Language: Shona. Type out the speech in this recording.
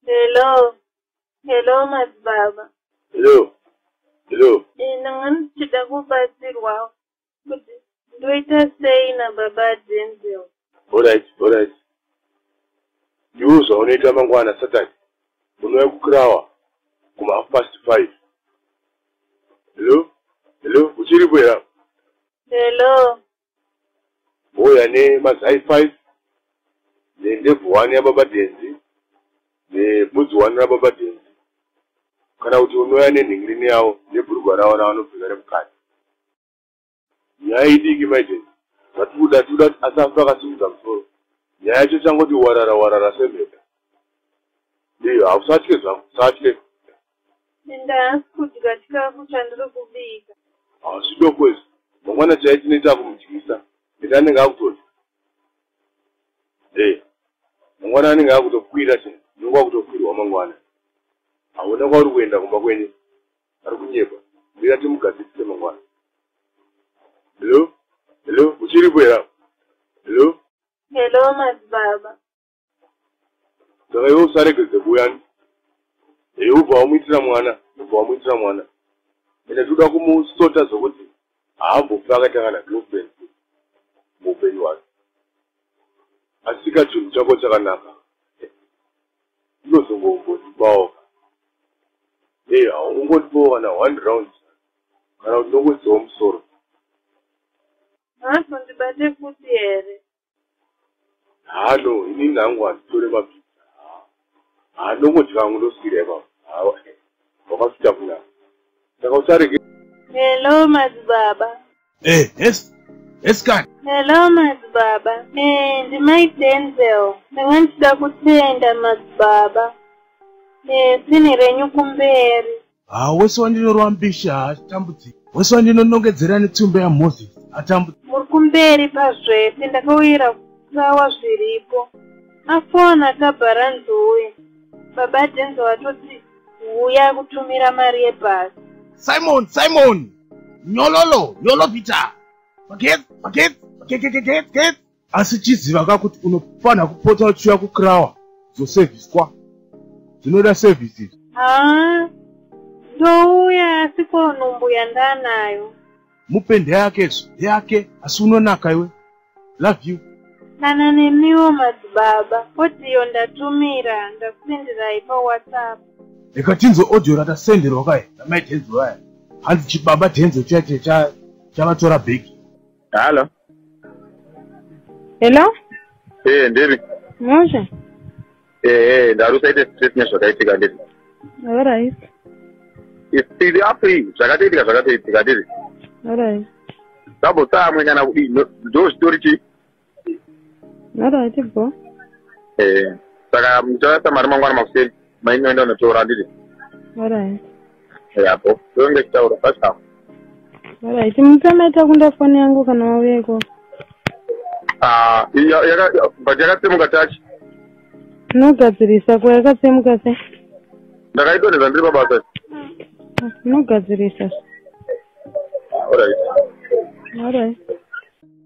Hello. Hello madzibaba. Hello. Hello. Ina ngani tichida kubatsirwa. kuti ndoita sei nababa denzel orit orit ndiwo zvaunoita mangwana satan unouya kukrawa kumahaf past five hello hello uchiripo era hello mouya nemazai five nendebvu wani yababa denzi nebudzi wani rababa denzi kana kuti unoya nenhingirini yavo nebhurugwa ravo ravanopfeka remukati nyaya idiki maiden vati kuda tikuda kuti asafa akasimudza musoro nyaya yacho changoti warara warara semheta ndiyo hausatye zvangu usatye enda hasi kudya chikafu chandiri kubika hazvidoko izvi mangwana chai tinoita kumudyisa ende anenge akutoti e mangwana anenge akutokwira chai unenge akutokwirwa mangwana haona kwauri kuenda kumba kwenyu ari kunyepa uye atimugadzisise mangwana hello hello muchiripo here apo hello hello madzibaba saka iwe usaregedze kuyani hei ubva wamuitira mwana ubva wamuitira mwana ende tikuda kumusota zvokuti haambofi akaita kana girlfriend muupenyu hwake asika chinhu chako chakanaka ndinozongombondibawo e haungondibawo kana one round kana kuti ndongodziwa musoro hazondibate futi here hano ini ndangu handitore mabhiza handongodya vangu ndoswira ipapa wakafita kuna saka usarege hello madzibaba Eh, yes. Yes, God. Hello, Mazibaba. Eh, ndi my Denzel. Ndanga ndichida kutenda Mazibaba. Eh, sini renyu kumberi. Ah, wese wandinorwa mbishi haatambudzi. Wese wandinonongedzera netsumbe yaMoses atambudzi. Muri kumberi pazvese ndakauyira kutawa zviripo. Afona akabhara nzuwe. Baba Denzel atoti huya kutumira mari yebhasi. Simon, Simon! nyololo yolovita magets magets magegegegets gets asi chiziva ka kuti unofanira kupota uchiuya kukrawa zosevhiswa zvinoda sevhisi haa ndouya asi ko nhumbu yandanayo mupende yake zvo yake asi unonaka iwe love you kana nemiwo madzibaba odiyo ndatumira ndakusenderai pawhatsapp rega tinzwe odiyo ratasenderwa kai namai dhenzo vaya hanzi chibaba dhenzo chache chavatora bheki halo hello ee ndiri moshe ehe ndari usaite stress nezvakaitika ndiri alright tiri apo iyi zvakatoitika zvakatoitika ndiri alright double saa amwe nyana kudii ndo zvitori chii alright bho ehe saka muchaasa mari mangwana makuseni mainoenda unotora ndiri alright yabo ndonge chitaura pachako right mutamaita kunda foni yangu kana waveko ah, but yakatsemuka tachi nogadzirisa ko yakatsemuka se ndakaitoneza ndiri pabasa nogadzirisa ah, alright alright